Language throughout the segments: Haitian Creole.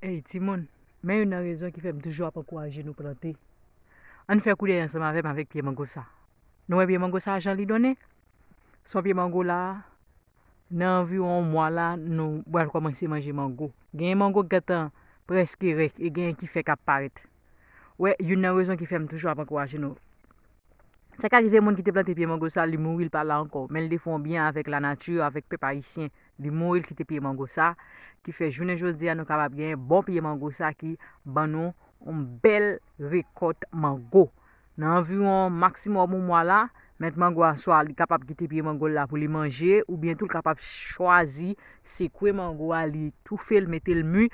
Ey timoun, men youn nan rezon ki fè m toujou ap ankouraje nou plante. Ann fè koulè ansanm avè m avèk pye mango sa. Nou wè pye mango sa jan li donnen? Son pye mango la, nan anviwon yon mwa la nou bwal kòmanse manje mango. Genyen mango ki gentan prèske rèk e genyen ki fèk ap parèt. wè youn nan rezon ki fè m toujou ap ankouraje nou. Sa ka rive moun ki te plante pye mango sa li mouri li pa la ankò men li te fè yon byen avèk lanati avèk pèp ayisyen li mouri li kite pye mango sa ki fè jounen jodi a nou kapab genyen bon pye mango sa ki ban nou yon bèl rekòt mango Nan anviwon maksimòm yon mwa la, mèt mango a swa li kapab kite pye mango l la pou li manje oubyen tou l kapab chwazi sekwe mango a li toufe l mete l mi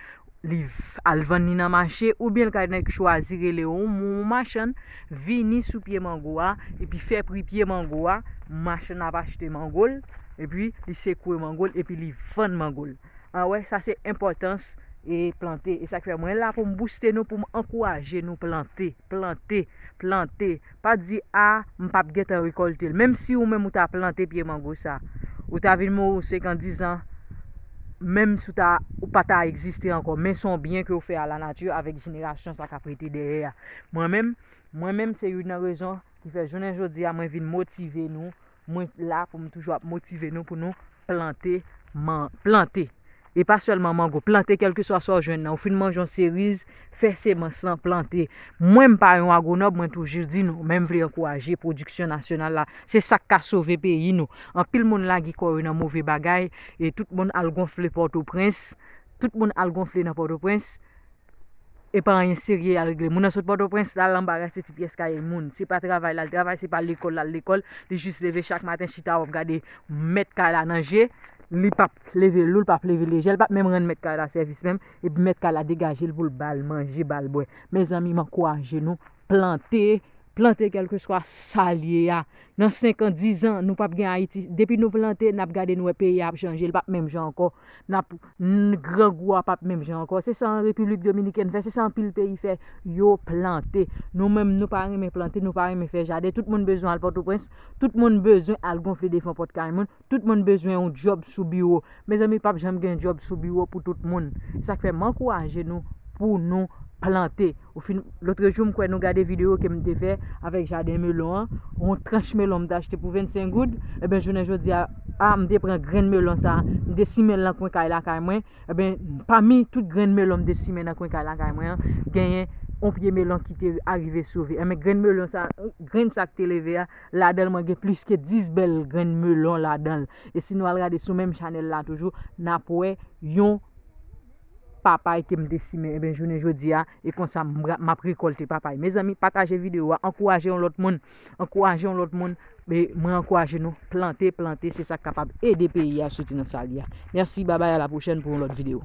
li al vann ni nan mache oubyen l ka chwazi rele yon machann vini sou pye mango a epi fè pri pye mango a machann nan ap achte mango l epi li sekwe mango l epi li vann mango l. An wè sa se enpòtans e plante. E sak fè mwen la pou m bouste nou pou m ankouraje nou plante, plante, plante. Pa di a m pap gentan rekòlte l. Menm si ou menm ou ta plante pye mango sa. Ou ta vin mouri ou senkan dizan. Menm si ou ta ou pa ta egziste ankò. Men son byen ke ou fè a la nati avèk jenerasyon sa kap rete dèyè a. Mwen menm, mwen menm se youn nan rezon ki fè jounen jodi a mwen vin motive nou. Mwen la pou m toujou ap motive nou pou nou plante man, plante. E pa sèlman mango, plante kèlkeswa sa ou jwenn nan. Ou fin manje yon seriz, fè semans lan, plante. Mwen m pa yon agwonòm, mwen toujou di nou, men m vle ankouraje pwodiksyon nasyonal la. Se sa k ka sove peyi nou. Anpil moun lage kò yo nan move bagay e tout moun al gonfle Pòtoprens, tout moun al gonfle nan Pòtoprens. E pa anyen serye yal regle. Moun nan sot Pòtoprens lal anba rase ti pyès kay moun. Se pa travay lal travay, se pa lekòl lal lekòl. Li jis leve chak maten chita wap gade mèt kay la nan je. Li pap leve lou l, pap leve lejè l, l pap menm rann mèt kay la sèvis menm. Epi mèt kay la degajel poul bal manje, bal bwè. Mezanmi m ankouraje nou. plante, plante kelkeswa sa l ye a. Nan senkan, dizan, nou pap gen Ayiti. Depi nou plante, n ap gade nou wè peyi a ap chanje, li pap menm jan ankò. N ap, grangou a pap menm jan ankò. Se sa Repiblik Dominikèn fè, se sa anpil peyi fè, yo plante. Nou menm, nou pa renmen plante, nou pa renmen fè jaden. Tout moun bezwen al Pòtoprens, tout moun bezwen al gonfle defon pòt kay moun. Tout moun bezwen yon djòb sou biwo. Mezanmi pap janm gen djòb sou biwo pou tout moun. Se sa k fè m ankouraje nou pou nou plante. Ou fin, lotrejou m kwè nou gade videyo ke m te fè avèk jaden melon an. Yon tranch melon m te achte pou 25 goud. Enben jounen jodi a, a m te pran grenn melon sa a, m te simen l nan kwen kay lakay mwen. Enben, pami tout grenn melon m te simen nan kwen kay lakay mwen an, genyen yon pye melon ki te arive sove. Enben grenn melon sa a, grenn sa k te leve a. Ladanl mwen gen plis ke 10 bèl grenn melon ladanl. E si nou al gade sou menm chanèl la toujou, nap wè yon papay kem te simen. Enben jounen jodi a, e konsa map rekolte papay. Mezanmi pataje video a, ankouraje yon lòt moun, ankouraje yon lòt moun. E mwen ankouraje nou plante, plante se sak kapab ede peyi a soti nan sal ye a. Mèsi babay a la pwochèn pou yon lòt video.